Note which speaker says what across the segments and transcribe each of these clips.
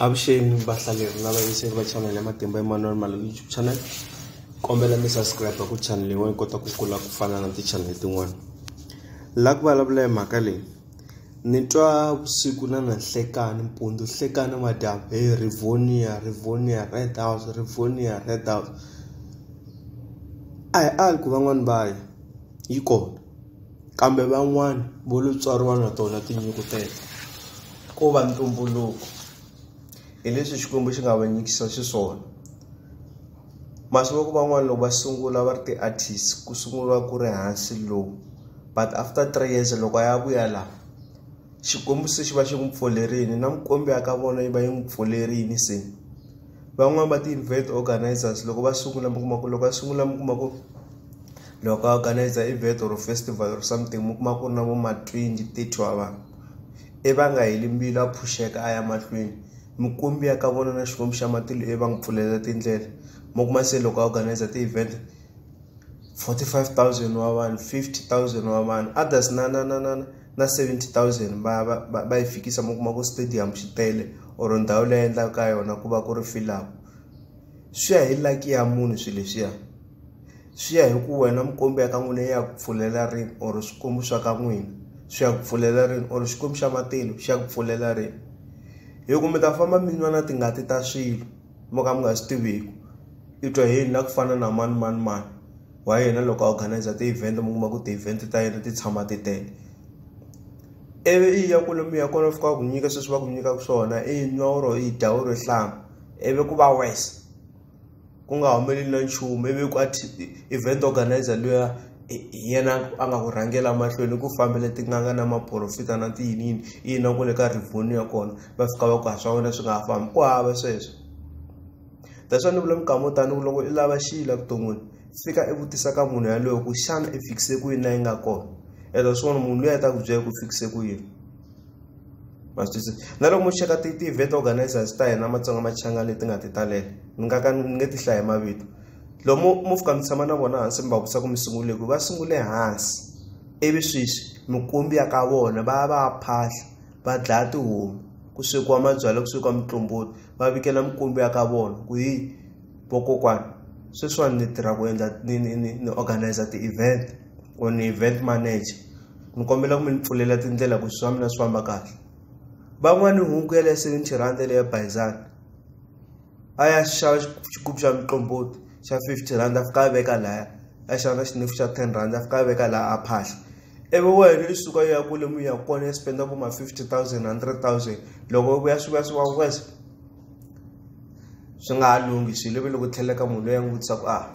Speaker 1: Avuxeni vahlaleri lava yingiseli va channel ya Matimba Emmanuel Malume YouTube channel kombela mi subscribe ku channel yin'wana yi kota ku kula ku fana na ti-channel tin'wana la ku vulavula hi mhaka leyi ni twa vusiku na na nhlekani mpundzu nhlekani madyambu he rivonia rivonia red house rivonia red house a hi ali ku van'wani va ya yi kona. Kambe van'wana vo lo tswariwa na tona tinyiko teto, ko va ntumbuluko, hileswi Xikwembu xi nga va nyikisa xiswona. Masivoko van'wana loko va sungula va ri ti-artist ku sunguriwa ku ri hansi low but after three years loko a ya vuya la Xikwembu se xi va xi n'wi pfulerini na mikwembu ya ka vona yi va yi n'wi pfulerini se. van'wani va ti-event organizers loko va sungula mi kuma ku loko va sungula mi kuma ku loko a organizer event or festival or something mi kuma ku ri na vo ma twenty thirty wa vanhu i va nga heli mbilu a phuxeka a ya mahlweni mikwembu ya ka vona na xikwembu xa matilo i va n'wi pfulela tindlela mi kuma se loko a organizer ti-event 45000 wa vanhu 50000 wa vanhu others na na na na na na 70,000 va va va, va yi fikisa mi kuma ku stadium xi tele or ndhawu leyi endlaka ka yona ku va ku ri filaku swi ya hi laki ya munhu swilo leswiya swi ya hi ku wena mukombi ya ka n'wina ya ku pfulela rini or swikwembu swa ka n'wina swi ya ku pfulela rini or xikwembu xa matilo xi ya ku pfulela rini hi ku mi ta famba mi nwa na tingati ta swilo mo ka mi nga swi tiviku i twa yini na ku fana na mani mani mani wa yena loko a organizer ti-event mi kuma ku ti-event ta yena ti tshama ti tele ivi i ya kule mi ya kona fika ku nyika sweswi va ku nyikaka swona i nwa oro i dya oro hlanga ivi ku va wese ku nga humeleli na nchumu ivi ku event organizer luya yena a nga ku rhangela mahlweni ku fambele tin'anga na maporofita na tiyiniyini i yina ku le ka rivoni ya kona va fika va ku ha swa wena swi nga ha fambi ku hava sweswo that's why ni vula minkama yo tani ku loko i lava xiyi la vuton'wini fika i vutisa ka munhu yaloyo ku xana i fikise ku yini la yi nga kona elo swona munhu loyi a ta ku byela ku fikise ku yini ma swi twisisa na loko mo cheka ti-event organizers ta hina matsonga machangani leti nga ti talela ni nga ka ni nge ti hlaya mavito loko mo mo fika mi tshama na vona hansi mi va vutisa ku mi sungule ku va sungule hansi ivi sweswi mikumbi ya ka vona va ya va ya phahla va dlaya tihomu ku swekiwa mabyalwa ku swekiwa mutlomboti va vikela mikwembu ya ka vona ku hi vokokwana sweswiwani ni tirha ku endla ni ni ni ni organize ti-event or ni event manager ni kombela ku mi ni pfulela tindlela ku swa mina swi famba kahle van'wani hunku ya le seventy rand leya bayizani a ya xava xigubu xa mutlomboti xa fifty rand a fika a veka laya a xava na xinefu xa ten rand a fika a veka laha a phahla ivi wena i suka yi ya kule mi ya kona yi spenda ku ma 50 000 100 000 loko yi vuya swi vuya swi va wese swi nga ha lunghi swilo ivi loko tlheleka munhu loyi a n'wi vutisa ku a ah,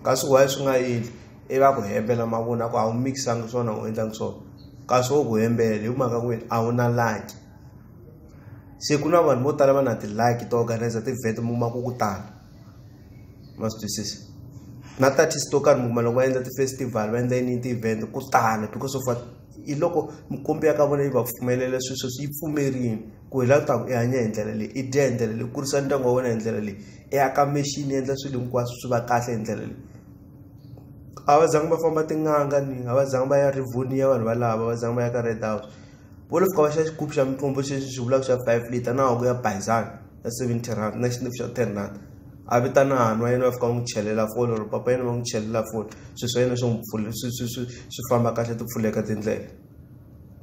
Speaker 1: kasi why swi nga endli i va ku hembela mavona ku a wu mikisangi swona u endlangi swona kasi wo ku hembela hi mhaka ku wena a wu na laki se ku na vanhu vo tala va na tilaki to organizer ti-vet mu ma ku ku tala ma swi twisisa na tatist to karhi mukuma loko va endla ti-festival va endla yini ti-event ku tala because of hi loko mikombi ya ka vona yi va pfumelela swilo sweswi yi pfumerini ku hi lava taku i hanya hi ndlela leyi i dya hi ndlela leyi kurisa ndyangu wa wena hi ndlela leyi i aka mexini endla swilo hinkwaswo swi va kahle hi ndlela leyi a va zangi va famba tin'anga ni a va zangi va ya rivonia vanhu valava va zangi va ya ka red house vo lo fika va xa xigubu xa mitlombo xexi xi vulaka xa five liter na wa ku ya bayizana ya 70 rand na xindifu xa 10 rand a vitana hanhu wa yena va fika va n'wi chelela foni or papa yena va n'wi chelela foni swilo swa yena swi n'wi pfule swi swi swi swi famba kahle ti pfuleka tindlela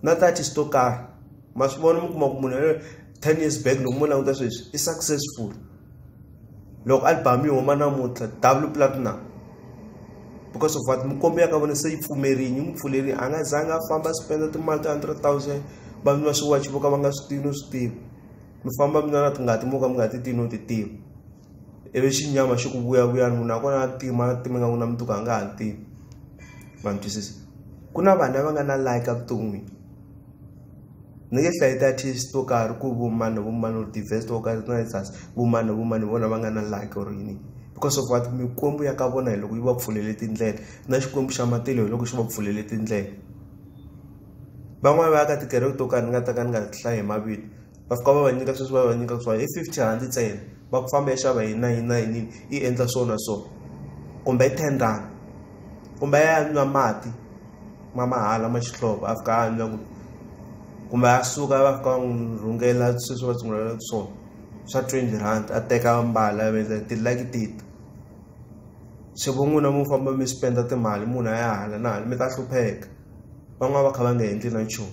Speaker 1: na thirty swi to karhi ma swi vona mi kuma ku munhu yaloyo ten years back loko mo languta sweswi i successful loko album yi huma namuntlha double platinum because of what mikombo ya ka vona se yi pfumerini yi n'wi pfulerini a nga zangi a famba a spenda timali ta hundred thousand vanhu va swiwachi vo ka va nga swi tivi no swi tivi mi famba mi na tingati mo ka mi nga ti tivi no ti tiva ivi xinyama xi ku vuyavuyani munhu nakona a tima a tima nga ku na mundzuku a nga ha tivi ma mi twisisa ku na vanhu lava nga na like evuton'wini ni nge hlayi ti-artist to karhi ku vumani vumani or tivest to karhi na sas vumani vumani vona va nga na like or yini because of what mikwembu ya ka vona hi loko yi va pfulele tindlela na xikwembu xa matilo hi loko xi va pfulele tindlela van'wani va ya ka tikereke to karhi ni nga ta ka ni nga hlayi hi mavito va fika va va nyika sweswi va va nyika ku swa hi fifty rand ntsena va ku famba xava hi nine nine yi endla so na so kumbe i ten rand kumbe a ya nwa mati ma mahala ma xihlovo a fika a nwa ku kumbe a suka va fika va n'wi rhungela sweswi va tshungulela ku swona swa twenty rand a teka mbala a vendla tilaki tita swi vo n'wina mu famba mi spenda timali munhu a ya hala na hala mi ta hlupheka van'wana va kha va nga endli na nchumu